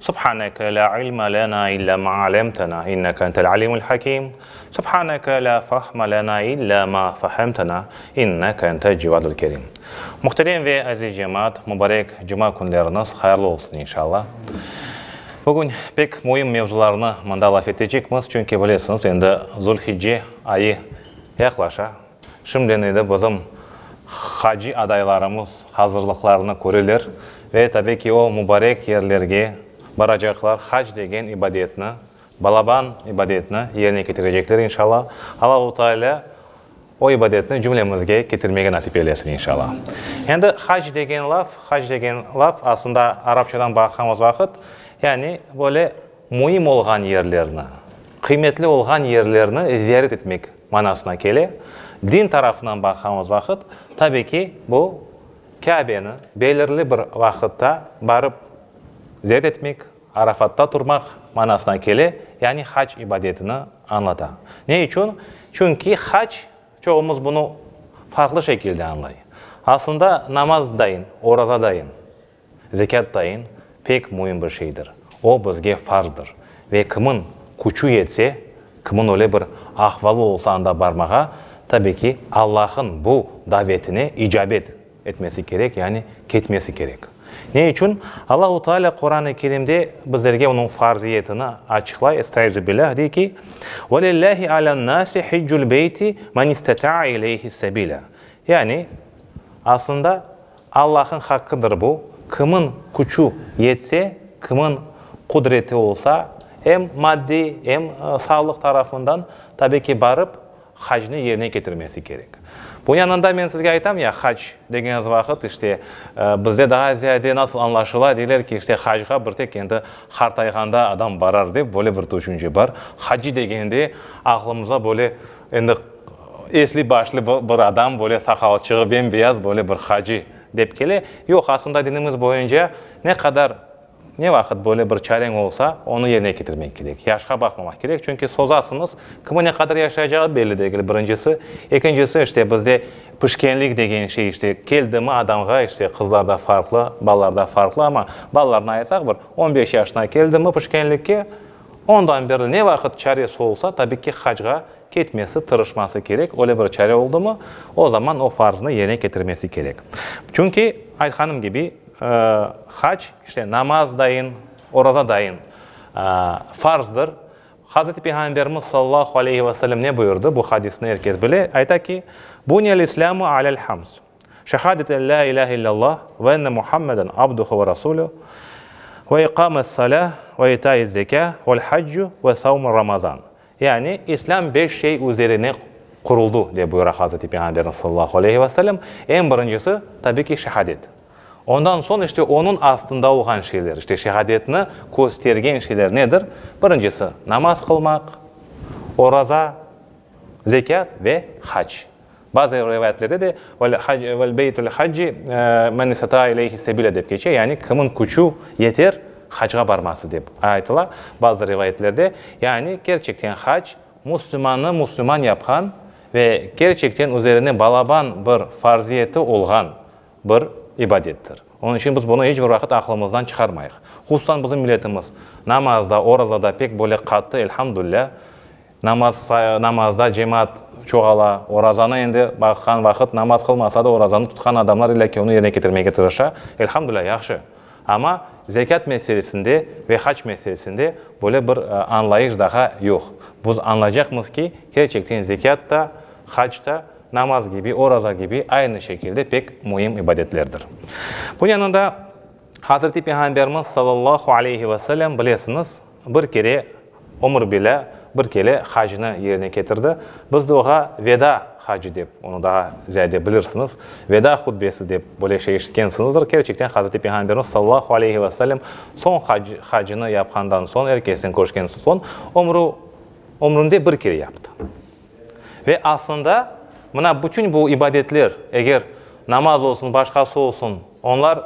Subhaneke la ilme lena illa ma alemtena inneke entel alimul hakim Subhaneke la fahme lena illa ma fahemtena inneke entel cevadul kerim Muhterem ve aziz cemaat, mubarek cuma künleriniz hayırlı olsun inşalla. Bugün pek müim mevzularnı mında laf etecekmiz, çünki bilesiñiz, endi Zulhicce ayı yaqlaşa, Şimdiden edi bizim hacı adaylarımız hazırlıqlarını köreler ve tabi ki o mubarek yerlerge baracaqlar, hac degen ibadetni, balaban ibadetni yerine ketirecekler inşalla. Allahu Teala o ibadetni cümlemizge ketirmege nasip eylesin inşalla. Endi hac degen laf, hac degen laf aslında arapçadan baqamız vaqıt yani böyle müim olğan yerlerni, qıymetli olğan yerlerni ziyaret etmek Manasına kele. Din tarafınan baqamız vaqıt, tabiy ki, bu Kâbeni belirli bir vaqıtta barıp ziyaret etmek, Arafatta turmaq manasına kele, yani hac ibadetini añlata. Ne içün? Çünki hac, çoğumuz bunı farqlı şekilde añlay. Aslında namazdayin, orazadayin Zekât tayin pek müim bir şeydir. O, bizge farzdır. Ve kimin küçü yetse, kimin öyle bir ahvalı olsa anda barmağa, tabi ki, Allahın bu davetine icabet etmesi kerek, yani ketmesi kerek. Ne içün? Allahu Teala Quran-ı Kerimde bizlerge onıñ farziyetini açıqlay, Estaizu billâh, dey ki, Ve lillâhi alen nâsi hiccul beyti men isteta'a ileyhi sebilâ. Yani, aslında, Allahnıñ haqqıdır bu, kimın küçü yetse, kimın qudreti olsa, em maddiy, em sağlıq tarafından, tabiy ki, barıp hacnı yerine ketirmesi kerek. Bunıñ yanında men sizge aytam ya, hac degeniniz vaqıt, işte, bizde daa ziyade nasıl añlaşıla, deyler ki, işte, hacğa bir tek endi qartayğanda adam barar dep, böyle bir tüşünce bar. Hacci degeninde aqlımızğa böyle, Endi esli başlı bir adam, böyle saqalçığı bembeyaz, böyle bir hacı dep kele. Yoq, aslında dinimiz boyunca ne qadar, ne vaqıt böyle bir çareñ olsa, onı yerine ketirmek kerek. Yaşqa baqmamaq kerek, çünki sozasıñız, kimniñ ne qadar yaşayacağı belli degil, birincisi. Ekincisi, işte bizde pişkenlik degen şey işte keldimi adamğa, işte qızlarda farqlı, balalarda farqlı, amma balalarına aytsaq, bir on beş yaşına keldimi pişkenlikke, Ondan berli ne vaqıt çaresi olsa, tabii ki, hacga ketmesi, tırışması kerek. Öyle bir çare oldumı, o zaman o farzını yerine ketirmesi kerek. Çünki, aytqanım kibi, hac, işte, namaz dayın, oraza dayın farzdır. Hazreti Peyğamberimiz sallallahu aleyhi ve sellem ne buyurdı? Bu hadisni er kes bile. Ayta ki, Buniyel-İslâmu alâ'l-hamz. Şehadet en la ilâhe illallah ve enne Muhammeden abduhu ve rasulü ve iqâmet salâ ve itâiz zekâ vel haccu ve savmu ramazan, yani İslâm beş şey üzerine quruldı, dep buyura Hazreti Peyğamberimiz sallallahu aleyhi ve sellem, eñ birincisi, tabii ki, şehadet. Ondan soñ işte onıñ astında olğan şeyler, işte şehadetni köstergen şeyler nedir? Birincisi, namaz qılmaq, oraza, zekât ve hac. Bazı rivâyetlerde de, Vel beytül hacci men istataâ ileyhi sebile dep keçe, yani kimniñ küçü yeter hacğa barması dep aytıla, bazı rivayetlerde, yani kerçekten hac muslimannı musliman yapqan ve kerçekten üzerine balaban bir farziyeti olğan bir ibadettir. Onıñ içün biz bunı iç bir vaqıt aqlımızdan çıqarmayıq. Hususan bizim milletimiz namazda, orazada pek böyle qattı, elhamdülilâ, Namaz, namazda cemaat çoğala. Orazanı endi baqqan vaqıt namaz qılmasa da orazanı tutqan adamlar illâ ki onı yerine ketirmege tırışa. Elhamdülilâh, yahşı. Amma zekât meselesinde ve hac meselesinde böyle bir añlayış daha yoq. Biz añlaycaqmız ki, kerçekten zekât da, hac da, namaz kibi, oraza kibi aynı şekilde pek müim ibadetlerdir. Bunıñ yanında. Hazreti Peyğamberimiz sallallahu aleyhi ve sellem, bilesiñiz, bir kere ömür bile bir kele hacnı yerine ketirdi. Biz de oğa Veda hacı dep, onı daa ziyade bilirsiñiz, Veda hutbesi dep böyle şey eşitkensiñizdir. Kerçekten Hazreti Peyğamberimiz sallallahu aleyhi ve sellem soñ hac, hacnı yapqandan soñ, er kesniñ köşken soñ ömrü, ömründe bir kere yaptı. Ve aslında, mına bütün bu ibadetler, eger namaz olsun, başqası olsun, onlar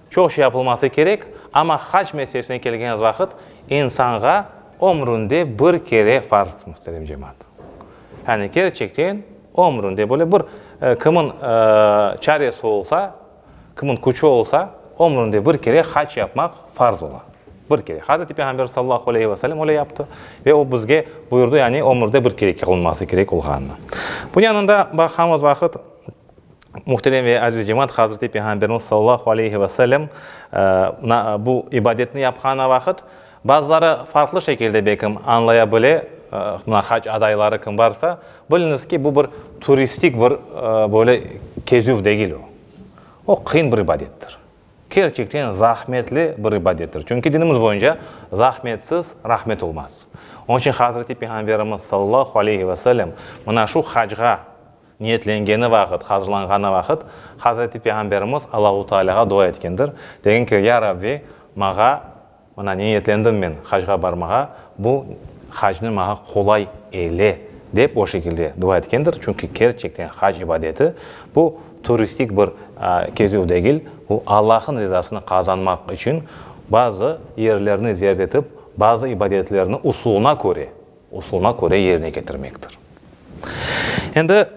çoq şey yapılması kerek, amma hac meselesine kelgen vaqıt, insanğa ömründe bir kere farz, muhterem cemaat. Yani kerçekten ömründe böyle bir, kimın çaresi olsa, Kimniñ küçü olsa, ömründe bir kere hac yapmaq farz ola. Bir kere. Hazreti Peyğamber sallallahu aleyhi ve sellem öyle yaptı ve o bizge buyurdı, yani ömürde bir kere qılınması kerek olğanını. Bunıñ yanında baqamız vaqıt, muhterem ve aziz cemaat, Hazreti Peyğamberimiz sallallahu aleyhi ve sellem bu ibadetni yapqanı vaqıt, Bazıları farqlı şekilde bekim añlaya bile, mına hac adayları kim barsa, biliñiz ki, bu bir turistik bir böyle kezüv degil o. O qıyın bir ibadettir. Kerçekten zahmetli bir ibadettir. Çünki dinimiz boyunca zahmetsiz rahmet olmaz. Onıñ içün Hazreti Peyğamberimiz sallallahu aleyhi ve sellem mına şu hacğa niyetlengeni vaqıt, hazırlanğanı vaqıt Hazreti Peyğamberimiz Allahu Tealâğa dua etkendir, degen ki, Ya Rabbi, maña Mına niyetlendim men hacğa barmağa, bu hacni maña qolay eyle, dep o şekilde dua etkendir. Çünki kerçekten hac ibadeti, bu turistik bir kezüv degil, bu Allah'ın rizasını qazanmaq içün bazı yerlerni ziyaret etip, bazı ibadetlerni usuluna köre usulına köre yerine ketirmektir. Endi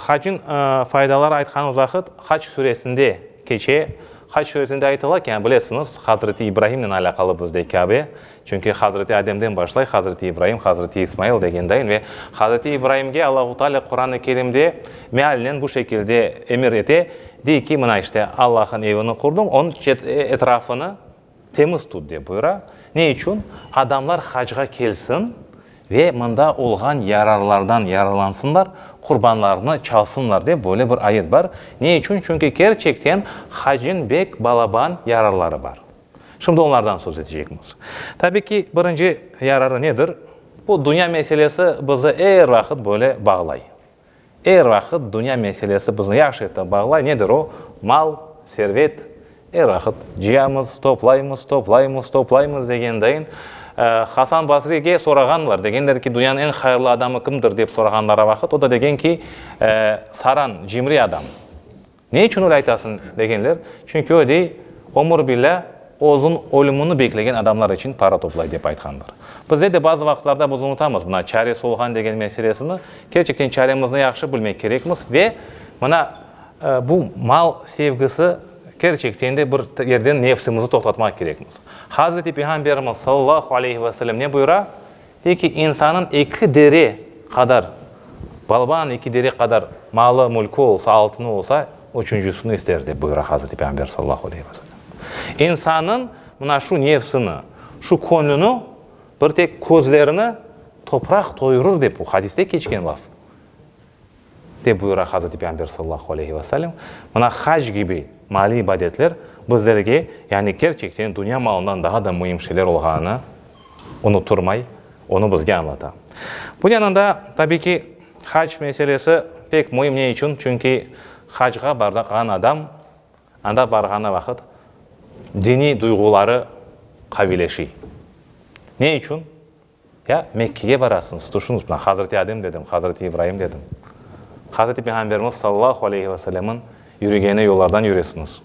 haçniñ faydaları aytqanımız vaqıt Haç süresinde keçe. Haç süresinde aytıla ki, bilesiñiz, Hazreti İbrahimnen alâqalı bizde Kâbe. Çünki Hazreti Ademden başlay, Hazreti İbrahim, Hazreti İsmail degendayin. Ve Hazreti İbrahimge Allahu Teala Quran-ı Kerimde mealnen bu şekilde emir ete, dey ki, mına işte, Allah'ın evini qurduñ, onıñ etrafını, Temiz tut dep buyura. Ne içün? Adamlar hacğa kelsin ve mında olğan yararlardan yararlansınlar, qurbanlarını çalsınlar dep böyle bir ayet bar. Ne içün? Çünki kerçekten hacniñ bek balaban yararları bar. Şimdi onlardan söz etecekmiz. Tabi ki, birinci yararı nedir? Bu dünya meselesi bizi er vaqıt böyle bağlay. Er vaqıt dünya meselesi bizni yahşı etip bağlay, nedir o? Mal, servet. Er vaqıt cıyamız, toplaymız, toplaymız, toplaymız degendayin, Hasan Basrige sorağanlar, degenler ki, dünyanıñ eñ hayırlı adamı kimdir dep sorağanları vaqıt, o da degen ki, Saran, cimri adam. Ne içün öyle aytasıñ? degenler. Çünki o dey, ömür bile özüñ ölümini beklegen adamlar içün para toplay, dep aytqanlar. Bizde de bazı vaqıtlarda biz unutamız mına çare solğan degen meselesini. Kerçekten çaremizni yahşı bilmek kerekmiz ve mına bu mal sevgisi kerçekten de bir yerden nefsimizni toqtatmaq kerekmiz. Hazreti Peyğamberimiz sallallahu aleyhi ve sellem ne buyura? Peki insannıñ eki dere qadar, Balbanıñ eki dere qadar malı, mülkü olsa, altını olsa, üçüncüsini ister, dep buyura Hazreti Peyğamber sallallahu aleyhi ve sellem. İnsannıñ mına şu nefsini, şu köñlüni, bir tek közlerini topraq toyurır, dep o hadiste keçken laf. Dep buyura Hazreti Peyğamber sallallahu aleyhi ve sellem, Mına hac kibi maliy ibadetler bizlerge, yani kerçekten dünya malından daa da müim şeyler olğanını unuturmay, onı bizge añlata. Bunıñ yanında, tabiy ki, hac meselesi pek müim. Ne içün? Çünki hacğa barğan adam anda barğanı vaqıt diniy duyğuları qavileşiy. Ne içün? Ya Mekkege barasıñız, tüşüñiz, mına, Hazreti Adem dedim, Hazreti İbraim dedim. Hazreti Peyğamberimiz sallallahu aleyhi ve sellemniñ yürügeni yollardan yüresiñiz.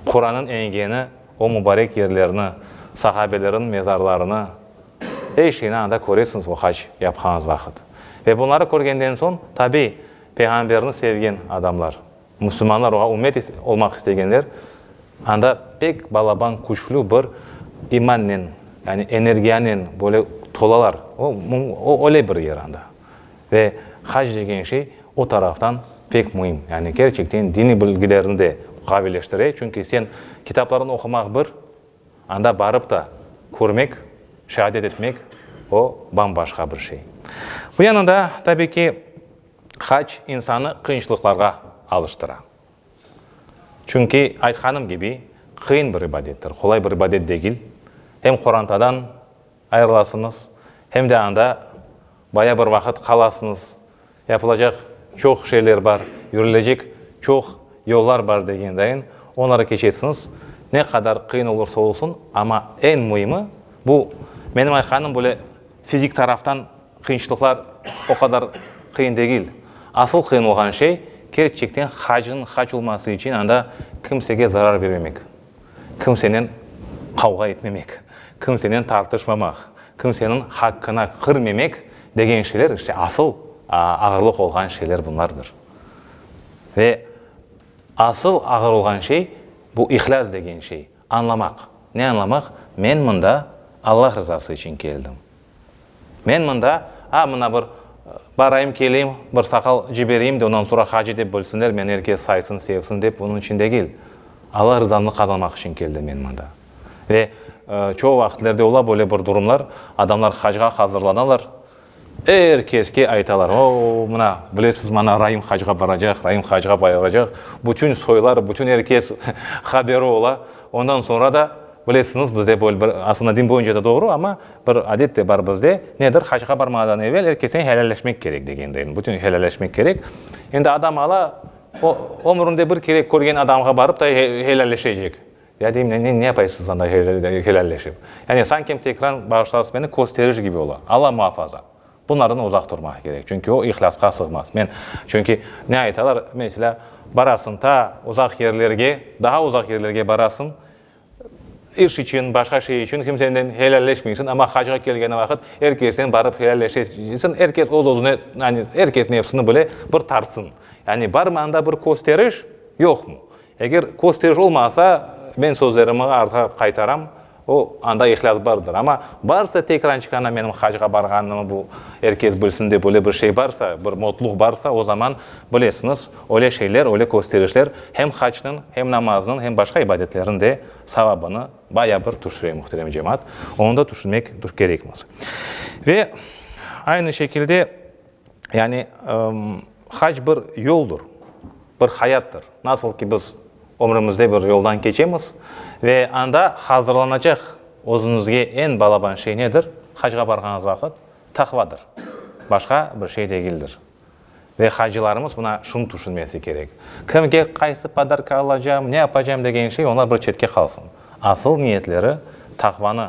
Qurannıñ engeni o mubarek yerlerni, sahabelerniñ mezarlarını, er şeyni anda köresiñiz o hac yapqañız vaqıt. Ve bunları körgenden soñ, tabiy, Peyğamberni sevgen adamlar. Müslümanlar oğa ümmet olmaq istegenler, anda pek balaban küçlü bir imannen, yani energiyanen böyle tolalar. O, o öyle bir yer anda. Ve hac degen şey o taraftan pek müim. Yani kerçekten diniy bilgilerni de gavilleştire, çünki sen kitaplarını oqumaq bir, anda barıp da körmek, şeadet etmek, o bam-başqa bir şey. Bu yanında, tabii ki, Hac insanı qıyınçlıqlarğa alıştıra. Çünki, aytqanım kibi, qıyın bir ibadettir, qolay bir ibadet degil. Hem qorantadan ayırılasıñız, hem de anda bayağı bir vaqıt qalasıñız, yapılacaq çoq şeyler bar, yürülecek çoq yollar bar degendayin, onları keçesiñiz. Ne qadar qıyın olursa olsun, amma eñ müimi, bu, menim aytqanım, böyle fizik taraftan, Qıyınçlıqlar o qadar qıyın degil. Asıl qıyın olğan şey, kerçekten hacnıñ hac olması içün anda kimsege zarar bermemek, kimsenen qavğa etmemek, kimsenen tartışmamaq, kimseniñ haqqına kirmemek degen şeyler, işte, asıl ağırlıq olğan şeyler bunlardır. Ve asıl ağır olğan şey, bu ihlâs degen şey. Añlamaq, ne añlamaq? Men mında Allah rızası içün keldim. Men mında, a, mına bir barayım, keleyim, bir saqal cibereyim de, ondan soñra hacı dep bilsinler, meni er kes saysın, sevsin dep onıñ içün degil. Allah rızanı qazanmaq içün keldim men mında. Ve çoğu vaqitlerde ola böyle bir durumlar, adamlar hacga hazırlanalar, Er keske aytalar, O, mına, bilesiz, mana Raim hacğa baracaq, Raim hacğa baracaq, bütün soylar, bütün er kes haberi ola. Ondan soñra da, bilesiñiz, bizde böyle bir, aslında din boyunca da doğru, amma bir adet de bar bizde, nedir, hacğa barmağdan evel er kesten helâlleşmek kerek degendeyin, bütün helâlleşmek kerek. Endi adam ala, o ömründe bir kere körgen adamğa barıp da helâlleşecek. Ya deyim, ne ne yapaysız anda helalleşip? Yani sanki tekrar bağışlarız beni kösteriş kibi ola. Alla muhafaza! Bunlardan uzaq turmaq kerek, çünki o ihlâsqa sığmaz. Men, çünki ne aytalar, meselâ, barasıñ ta uzaq yerlerge, daha uzaq yerlerge barasıñ, iş içün, başqa şey içün kimsenen helalleşmeysiñ, amma hacğa kelgeni vaqıt er kesnen barıp helalleşesiñ, er kes öz-özüne, yani er kes nefsini bile bir tartsıñ. Yani barmı anda bir kösteriş, yoqmı? Eger kösteriş olmasa, men sözlerimi artqa qaytaram, o, anda ihlâs bardır. Amma barsa tekran çıqana menim hacqa barğanımı bu er kes bilsin dep öyle bir şey barsa, bir motluq barsa, o zaman, bilesiñiz, öyle şeyler, öyle kösterişler hem hacnıñ, hem namaznıñ, hem başqa ibadetlerniñ de savabını bayağı bir tüşüre, muhterem cemaat. Onı da tüşünmek kerekmiz. Ve aynı şekilde Yani, hac bir yoldur, bir hayattır. Nasıl ki biz ömrümizde bir yoldan keçemiz ve anda hazırlanacaq özümizge eñ balaban şey nedir? Hacğa barğanız vaqıt, taqvadır, başqa bir şey degildir. Ve hacılarımız buna şunı tüşünmesi kerek, kimge qaysı podarka alacam, ne yapacam degen şey, onlar bir çetke qalsın. Asıl niyetleri taqvanı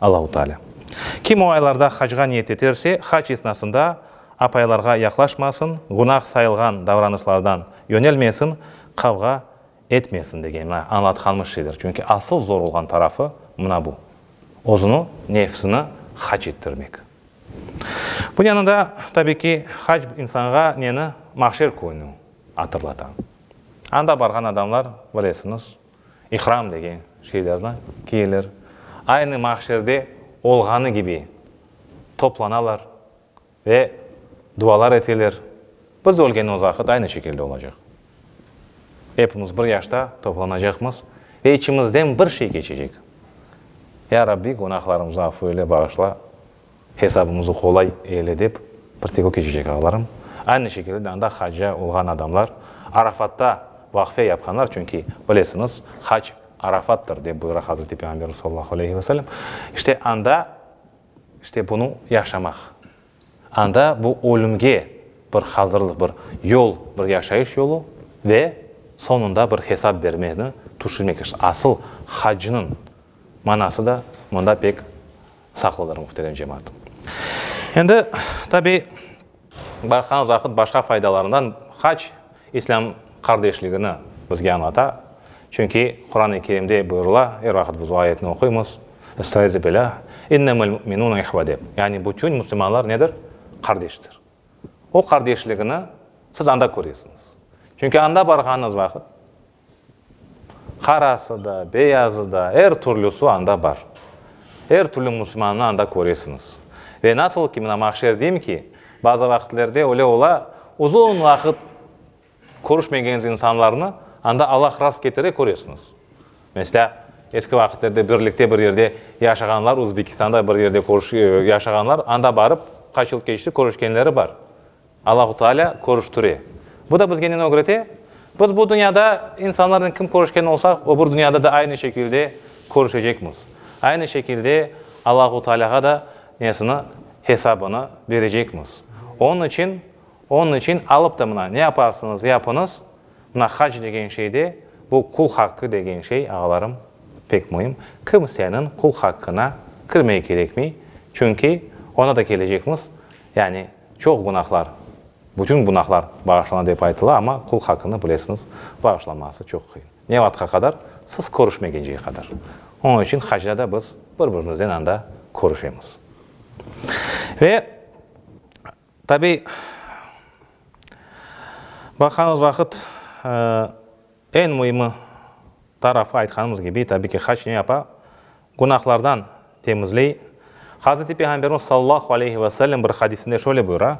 Allahu Teala. Kim o aylarda hacga niyet eterse, hac esnasında apaylarğa yaqlaşmasın, günah sayılğan davranışlardan yönelmesin, qavğa etmesin degen mına añlatqanımız şeyler. Çünki asıl zor olğan tarafı mına bu, özüni, nefsini hac ettirmek. Bunıñ yanında, tabiy ki, hac insanğa neni? Mahşer kününi atırlata. Anda barğan adamlar, bilesiñiz, İhram degen şeylerni kiyeler. Aynı mahşerde olğanı kibi toplanalar ve dualar eteler. Biz ölgenimiz vaqıt aynı şekilde olacaq. Epimiz bir yaşta toplanacaqmız ve içimizden bir şey keçecek, Ya Rabbi, günahlarımızı afu eyle, bağışla. Hesabımızı qolay eyle dep, bir tek o keçecek, ağalarım. Aynı şekilde de anda hacca olğan adamlar, Arafatta vaqfe yapqanlar, çünki, bilesiñiz, hac Arafattır, dep buyura Hazreti Peyğamberimiz sallallahu aleyhi ve sellem. İşte anda, işte bunı yaşamaq. Anda bu ölümge bir hazırlıq, bir yol, bir yaşayış yolu ve soñunda bir hesap bermeni tüşünmek. Asıl haccınıñ manası da mında pek. Sağ olunır muhterem cemaat. Endi tabi baqan vaqıt başqa faydalarından hac İslâm qardeşligini bizge añlata. Çünki Quran-ı Kerimde buyurula, er vaqıt biz o ayetni oquymız, Estaizu bilâ, İnnemel mü'minûne ihve dep. Yani bütün müslümanlar nedir? Qardeştir. O qardeşligini siz anda köresiñiz. Çünki anda barğanıñız vaqıt, Qarası da, beyazı da, er türlüsi anda bar. Er türlü musulmannı anda köresiñiz. Ve nasıl ki, mına mahşer deyim ki, bazı vaqıtlerde öyle ola, uzun vaqıt körüşmegeñiz insanlarnı anda Allah rast ketire köresiñiz. Meslâ, eski vaqıtlarda birlikte bir yerde yaşağanlar, Uzbekistanda bir yerde yaşağanlar, anda barıp, qaç yıl keçti, körüşkenleri bar. Allahu Taalâ körüştire. Bu da bizge neni ögrete? Biz bu dünyada insanlarnen kim körüşken olsaq, öbür dünyada da aynı şekilde körüşecekmiz. Aynı şekilde Allahu Taalâğa da nesini, hesabını berecekmiz. Onıñ içün, onıñ içün alıp da mına, ne yaparsıñız yapıñız, mına hac degen şeyde, bu qul haqqı degen şey, ağalarım, pek müim, kimseniñ qul haqqına kirmey kerekmey, çünki oña da kelecekmiz, yani Çoq gunahlar, bütün gunahlar bağışlana dep aytıla, amma qul haqqını bilesiñiz, bağışlaması çoq qıyın. Ne vaqtqa qadar? Siz körüşmegenceye qadar. Onıñ içün hacda da biz bir-birimizden anda körüşemiz. Ve, tabiy, baqqanımız vaqıt, eñ müimi tarafı, aytqanımız kibi, tabiy ki, hac ne yapa? Günahlardan temizley. Hazreti Peyğamberimiz sallallahu aleyhi ve sellem bir hadisinde şöyle buyura,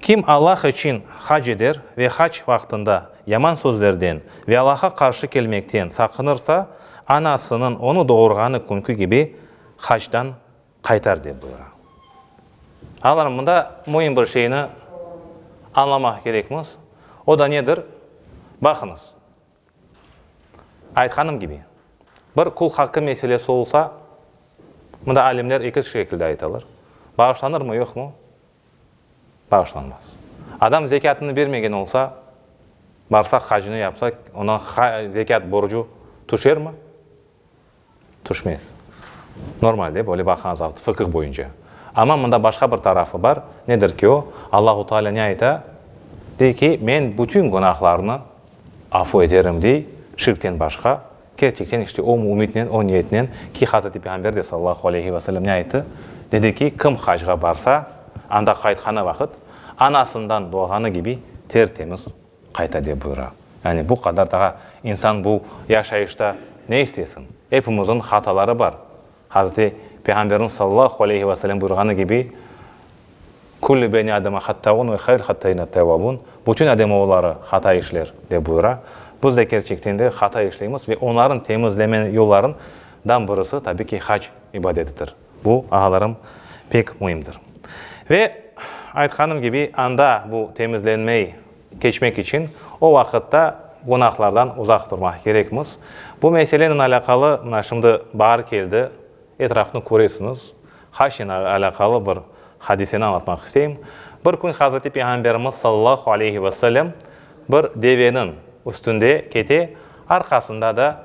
Kim Allah içün hac eder ve hac vaqtında yaman sözlerden ve Allah'a qarşı kelmekten saqınırsa, anasınıñ onı doğurğanı künki kibi hacdan qaytar, dep buyura. Ağalarım, mında müim bir şeyni añlamaq kerekmiz, o da nedir? Baqıñız. Aytqanım kibi, bir kul haqqı meselesi olsa, mında alimler eki şekilde aytalar, bağışlanırmı, yoqmı? Bağışlanmaz. Adam zekâtını bermegen olsa, barsa, hacını yapsa, onıñ zekât borcu tüşermi? Tüşmez. Normal dep öyle baqañız avt, fıkıh boyunca. Amma mında başqa bir tarafı bar, nedir ki o? Allahu Teala ne ayta? Dey ki, Men bütün günahlarnı afu eterim, dey, şirkten başqa. Kerçekten işte o mümitnen, o niyetnen ki, Hazreti Peyğamber de sallallahu aleyhi ve sellem ne ayttı? Dedi ki, kim hacğa barsa, anda qaytqanı vaqıt, anasından doğğanı kibi ter-temiz Qayta de buyura. Yani bu qadar daa insan bu yaşayışta ne istesin? Epimizniñ hataları bar. Hazreti Peyğamberniñ sallallahu aleyhi ve selem buyurğanı kibi, Küllü beni Ademe hattâun ve hayrul hattâine tevvâbun, Bütün ademoğulları hata işler, dep buyura. Biz de kerçekten de hata işleymiz ve onların temizleme yolların dan birisi, tabii ki, hac ibadetidir. Bu, ağalarım, pek müimdir. Ve, aytqanım kibi, anda bu temizlenmey keçmek içün o vaqıtta günahlardan uzaq turmaq kerekmiz. Bu meselenen alâqalı mına şimdi baar keldi, etrafnı köresiñiz, haşnen alâqalı bir hadiseni añlatmaq isteyim. Bir kün Hazreti Peyğamberimiz sallallahu aleyhi ve sellem bir deveniñ üstünde kete, arqasında da,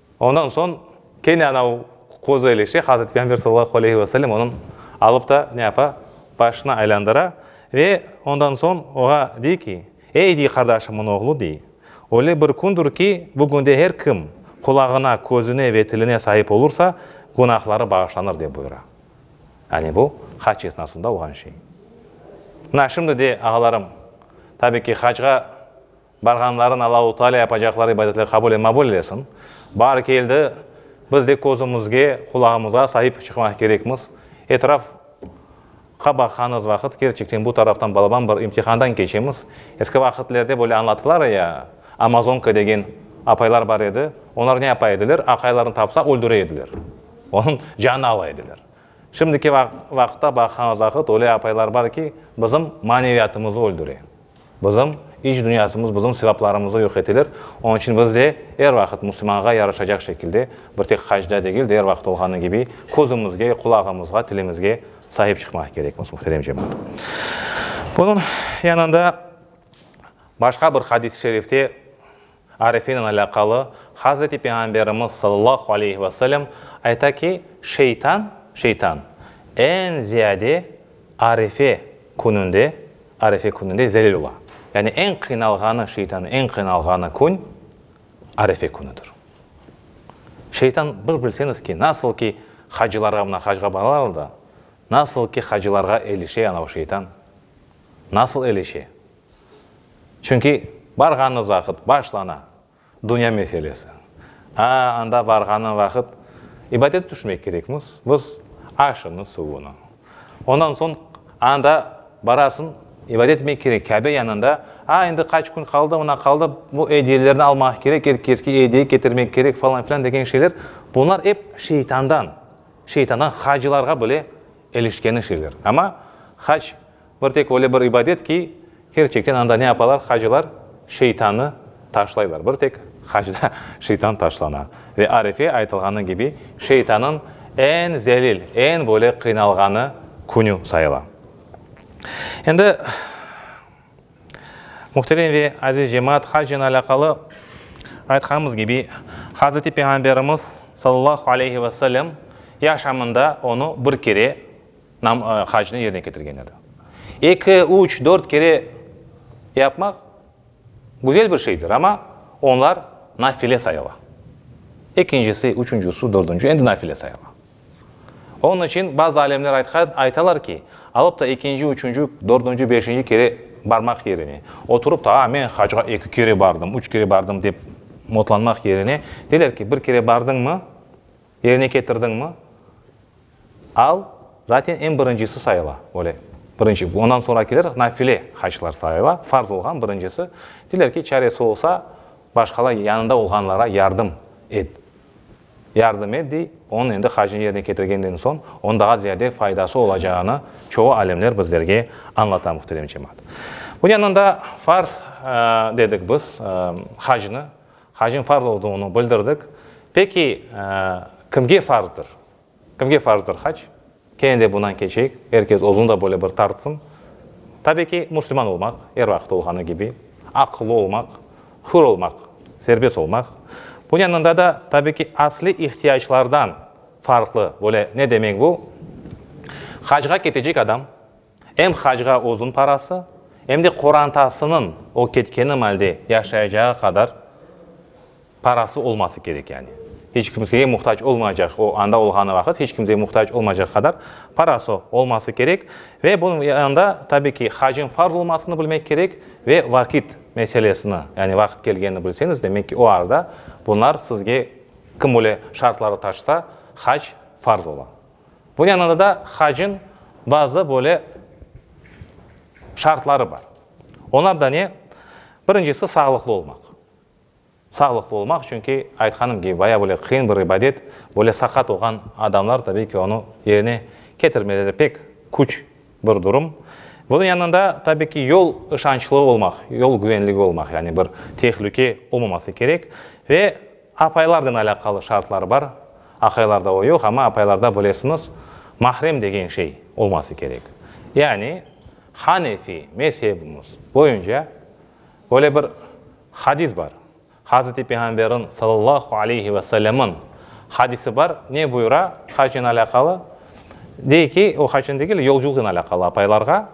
Ondan soñ kene ana o qozu elişe, Hazreti Peyğamber sallallahu aleyhi ve sellem onı alıp ta ne yapa, başına aylandıra ve ondan soñ oña dey ki, Ey, dey, qardaşımnıñ oğlu, dey, öyle bir kündir ki, bu künde her kim qulağına, közüne ve tiline saip olursa, günahları bağışlanır, dep buyura. Yani bu hac esnasında olğan şey. Mına şimdi de, ağalarım, tabii ki, hacğa, Barğanların Allahu Taalâ yapacaqları ibadetler qabul e mabul eylesin. Baar keldi, biz de közümizge, qulağımızğa saip çıqmaq kerekmiz. Etraf qa baqanız vaqıt kerçekten bu taraftan balaban bir imtihandan keçemiz. Eski vaqitlerde böyle añlatılar ya, Amazonka degen apaylar bar edi, oñlar ne yapa ediler, aqaylarını tapsa öldüre ediler, onıñ canını ala ediler. Şimdiki vaqıtta baqanız vaqıt öyle apaylar bar ki, bizim maneviyatımızı öldüre. Bizim iç dünyasımız, bizim sevaplarımızı yoq eteler, onıñ içün biz de er vaqıt musulmanğa yaraşacaq şekilde, bir tek hacda degil de, er vaqıt olğanı kibi, közümizge, qulağımızğa, tilimizge sahip çıqmaq kerekmiz, muhterem cemaat. Bunıñ yanında başqa bir hadis-i şerifte Arifinen alâqalı, Hazreti Peyğamberimiz sallallahu aleyhi ve sellem ayta ki, Şeytan, şeytan, eñ ziyade Arife kününde, Arife kününde zelil ola. Yani eñ qıynalğanı, şeytanın eñ qıynalğanı kün Arife künüdir. Şeytan, bir bilseñiz ki, nasıl ki hacılarğa, mına hacğa baralar da, nasıl ki hacılarğa ilişe ana o şeytan, nasıl ilişe? Çünki barğanıñız vaqıt başlana dünya meselesi. Aa, anda barğanıñ vaqıt ibadet tüşmek kerekmiz, biz aşını, suvunı. Ondan soñ anda barasıñ, ibadet etmek kerek Kâbe yanında. Aa, endi qaç kün qaldı, mına qaldı, bu ediyelerni almaq kerek, er keske ediye ketirmek kerek, falan filan degen şeyler, bunlar ep şeytandan, şeytandan hacılarğa bile ilişkeni şeyler. Amma hac Bir tek öyle bir ibadet ki, kerçekten anda ne yapalar hacılar? Şeytanı taşlaylar. Bir tek hacda şeytan taşlana. Ve Arefe aytılğanı kibi, şeytanıñ eñ zelil, eñ böyle qıynalğanı künü sayıla. Endi, muhterem ve aziz cemaat, hacnen alâqalı aytqanımız kibi, Hazreti Peyğamberimiz, sallallahu aleyhi ve sellem, yaşamında onı bir kere Nam hacnı yerine ketirgen edi. Eki, üç, dört kere yapmaq güzel bir şeydir, amma onlar nafile sayıla. Ekincisi, üçüncüsü, dördüncü, endi nafile sayıla. Onıñ içün bazı alimler aytqan, aytalar ki, alıp da ekinci, üçüncü, dördüncü, beşinci kere barmaq yerine, oturıp da, a, men hacğa eki kere bardım, üç kere bardım dep motlanmaq yerine, deyler ki, bir kere bardıñmı, yerine ketirdiñmi, Al, zaten eñ birincisi sayıla, böyle, birinci, ondan soñrakiler nafile haclar sayıla, farz olğan birincisi, deyler ki, çaresi olsa, başqalar yanında olğanlara yardım et, yardım et, dey, onıñ endi hacını yerine ketirgenden soñ, onıñ daha ziyade faydası olacağını çoğu alimler bizlerge añlata, muhterem cemaat. Bu yanında farz dedik biz hacnı, hacnıñ farz olduğını bildirdik. Peki, kimge farzdır? Kimge farzdır hac? Kene de bundan keçeyik, er kes özüni da böyle bir tartsın. Tabiy ki, müslüman olmaq, er vaqıt olğanı kibi, aqıllı olmaq, hür olmaq, serbest olmaq. Bunıñ yanında da, tabiy ki, asliy ihtiyaclardan farqlı, böyle, ne demek bu? Hacğa ketecek adam, Em hacğa özün parası, em de qorantasınıñ o ketkeni malde yaşayacağı qadar parası olması kerek, yani, hiç kimseye muhtac olmayacaq, o anda olğanı vaqıt hiç kimseye muhtac olmayacaq qadar parası olması kerek. Ve bunıñ yanında, tabiy ki, hacıñ farz olmasını bilmek kerek ve vaqit meselesini, yani, vaqıt kelgenini bilseñiz, demek ki, o arada bunlar sizge kim bile şartları taşsa, hac farz ola. Bunıñ yanında da hacin bazı böyle şartları bar. Olar da ne? Birincisi, sağlıqlı olmaq. Sağlıqlı olmaq, çünki aytqanım kibi, bayağı böyle qıyın bir ibadet, böyle saqat olğan adamlar, tabiy ki, onı yerine ketirmeleri pek küç bir durum. Bunıñ yanında, tabiy ki, yol ışançlı olmaq, yol güvenligi olmaq, yani bir tehlüke olmaması kerek. Ve Apaylardan alâqalı şartlar bar, aqaylarda o yoq, amma apaylarda bilesiñiz, mahrem degen şey olması kerek. Yani, hanefiy mezhebimiz boyunca böyle bir hadis bar, Hazreti Peyğamberniñ sallallahu aleyhi ve sellemniñ hadisi bar, ne buyura hacnen alâqalı? Dey ki, o hacnen degil, yolculıqnen alâqalı apaylarğa,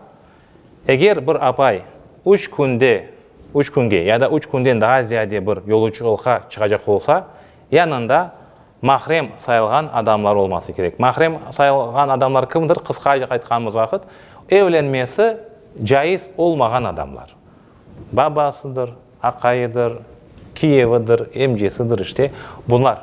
Eger bir apay üç künde, üç künge ya da üç künden daa ziyade bir yoluçulqa çıqacaq olsa, yanında mahrem sayılğan adamlar olması kerek. Mahrem sayılğan adamlar kimdir? Qısqaca aytqanımız vaqıt, evlenmesi caiz olmağan adamlar. Babasıdır, aqayıdır, kiyevidir, emcesidir, işte bunlar.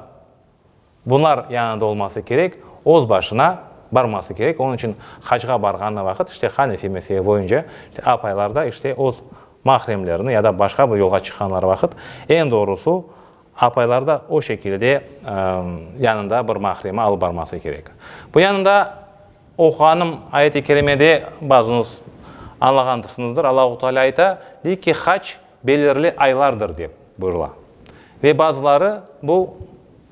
Bunlar yanında olması kerek, öz başına barması kerek. Onıñ içün hacğa barğanı vaqıt, işte, hanefiy mezhebi boyunca, işte, apaylar da, işte, öz mahremlerini ya da başqa bir yolğa çıqqanları vaqıt, eñ doğrusu, apaylar da o şekilde yanında bir mahremi alıp barması kerek. Bu yanında oquğanım ayet-i kerimede, bazıñız añlağandırsıñızdır, Allahu Taalâ ayta, dey ki, hac belirli aylardır dep buyurıla. Ve bazıları bu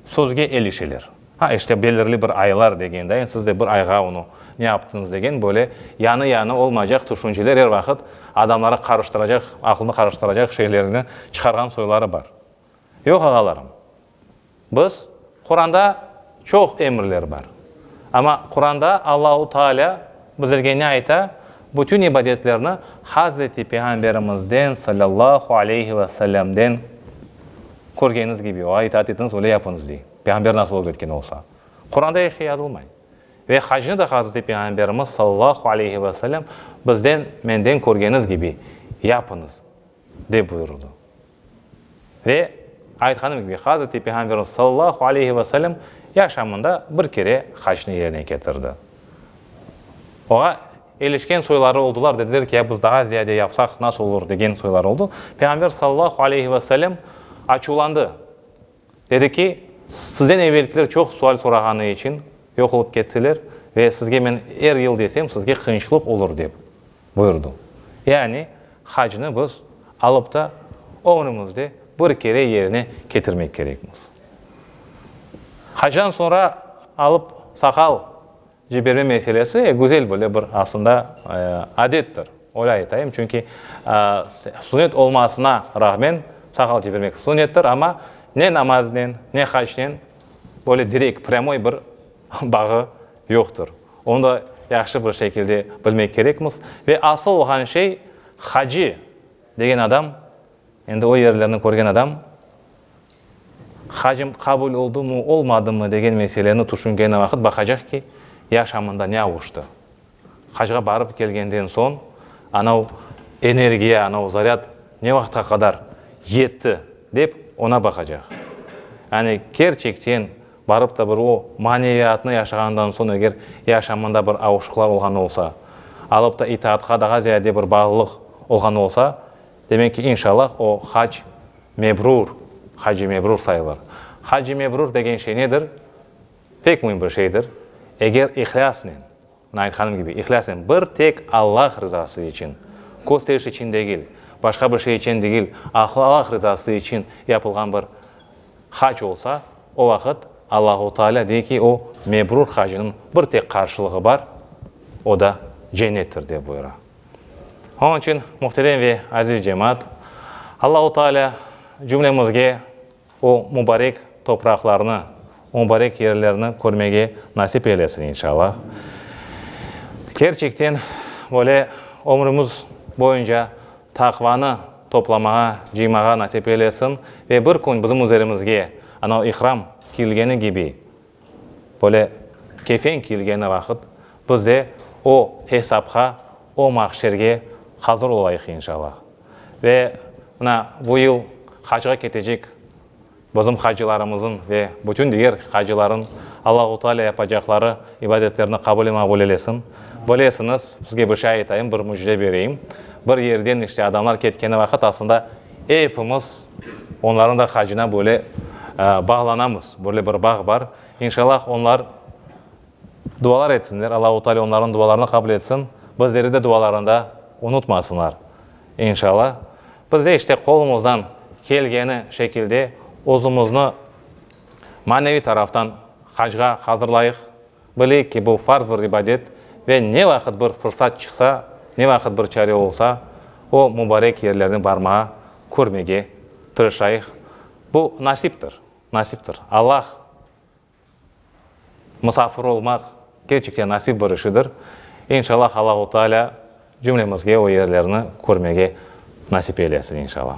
sözge elişeler. Ha, işte, belirli bir aylar degendayin siz de bir ayğa onı ne yaptıñız degen böyle yanı-yanı olmaycaq tüşünceler er vaqıt adamları qarıştıracaq, aqılnı qarıştıracaq şeylerni çıqarğan soyları bar. Yoq, ağalarım. Biz, Quranda çoq emirler bar. Amma Quranda Allahu Taalâ bizlerge ne ayta, bütün ibadetlerni Hazreti Peyğamberimizden sallallahu aleyhi ve sellemden körgeniz kibi, oğa itaat etiñiz, öyle yapıñız, dey. Peyğamber nasıl ögretken olsa. Quranda eşe yazılmay. Ve hacnı da Hazreti Peyğamberimiz sallallahu aleyhi ve sellem bizden, menden körgeniz kibi yapıñız. Dep buyurdı. Ve, aytqanım kibi, Hazreti Peyğamberimiz sallallahu aleyhi ve sellem yaşamında bir kere hacnı yerine ketirdi. Oğa elişken soyları oldılar, dediler ki, ya biz daha ziyade yapsaq nasıl olur, degen soylar oldı. Peyğamber sallallahu aleyhi ve sellem açuvlandı. Dedi ki, sizden evelkiler çoq sual sorağanı içün yoq olıp kettiler ve sizge men er yıl desem, sizge qıyınçlıq olur, dep. Buyurdı. Yani, hacnı biz alıp ta ömrümizde bir kere yerine ketirmek kerekmiz. Hacdan soñra alıp saqal ciberme meselesi, e, güzel böyle bir aslında adettir, öyle aytayım. Çünki sunet olmasına rağmen saqal cibermek sunettir, amma ne namaznen, ne hacnen böyle direkt, prâmoy bir bağı yoqtır. Onı da yahşı bir şekilde bilmek kerekmiz. Ve asıl olğan şey, Haci degen adam, endi o yerlerni körgen adam, hacim qabul oldumı, olmadımı degen meseleni tüşüngeni vaqıt baqacaq ki, yaşamında ne avuştı. Hacğa barıp kelgenden soñ anav energiya, anav zaryad ne vaqıtqa qadar yetti, dep, ona baqacaq. Yani kerçekten. Barıp da bir o maneviyatnı yaşağandan soñ eger yaşamında bir avuşıqlar olğan olsa, alıp da itaatqa daha ziyade bir bağlılıq olğan olsa, demek ki, inşallah o hac mebrur, hac-i mebrur sayılır. Hac-i mebrur degen şey nedir? Pek müim bir şeydir. Eger ihlâsnen. Nait hanım kibi ihlasen bir tek Allah rızası içün, kösteriş içün degil, başqa bir şey içün degil, ahı Allah rızası içün yapılğan bir hac olsa, o vaqıt Allahu Taalâ dey ki, o mebrur hacınıñ bir tek qarşılığı bar, o da cennettir, dep buyura. Onıñ içün, muhterem ve aziz cemaat, Allahu Taalâ cümlemizge, O mubarek topraqlarnı, o mubarek yerlerni körmege nasip eylesin inşallah. Kerçekten böyle ömrümiz boyunca taqvanı toplamağa, cıymağa nasip eylesin ve bir kün bizim üzerimizge anav İhram kiyilgeni kibi Böyle kefen kiyilgeni vaqıt biz de o hesapqa, o mahşerge hazır olayıq inşallah. Ve mına bu yıl hacğa ketecek bizim hacılarımızın ve bütün diger hacıların Allahu Teala yapacaqları ibadetlerini qabul-i-maqbul eylesin. Bilesiñiz, sizge bir şey aytayım, bir müjde bereyim. Bir yerden işte adamlar ketkeni vaqıt aslında epimiz, Onlarnıñ da hacına böyle bağlanamız. Böyle bir bağ bar. İnşallah onlar dualar etsinler, Allahu Teala onlarnıñ dualarını qabul etsin, bizleri de dualarında unutmasınlar. İnşallah. Biz de işte qolumızdan kelgeni şekilde özümizni maneviy taraftan hacğa hazırlayıq. Bileyik ki, bu farz bir ibadet ve ne vaqıt bir fırsat çıqsa, ne vaqıt bir çare olsa, o mubarek yerlerni barmağa, körmege tırışayıq. Bu nasiptir, nasiptir. Allah musafir olmaq kerçekten nasip bir işidir. İnşallah, Allahu Teala cümlemizge o yerlerni körmege nasip eylesin, inşallah.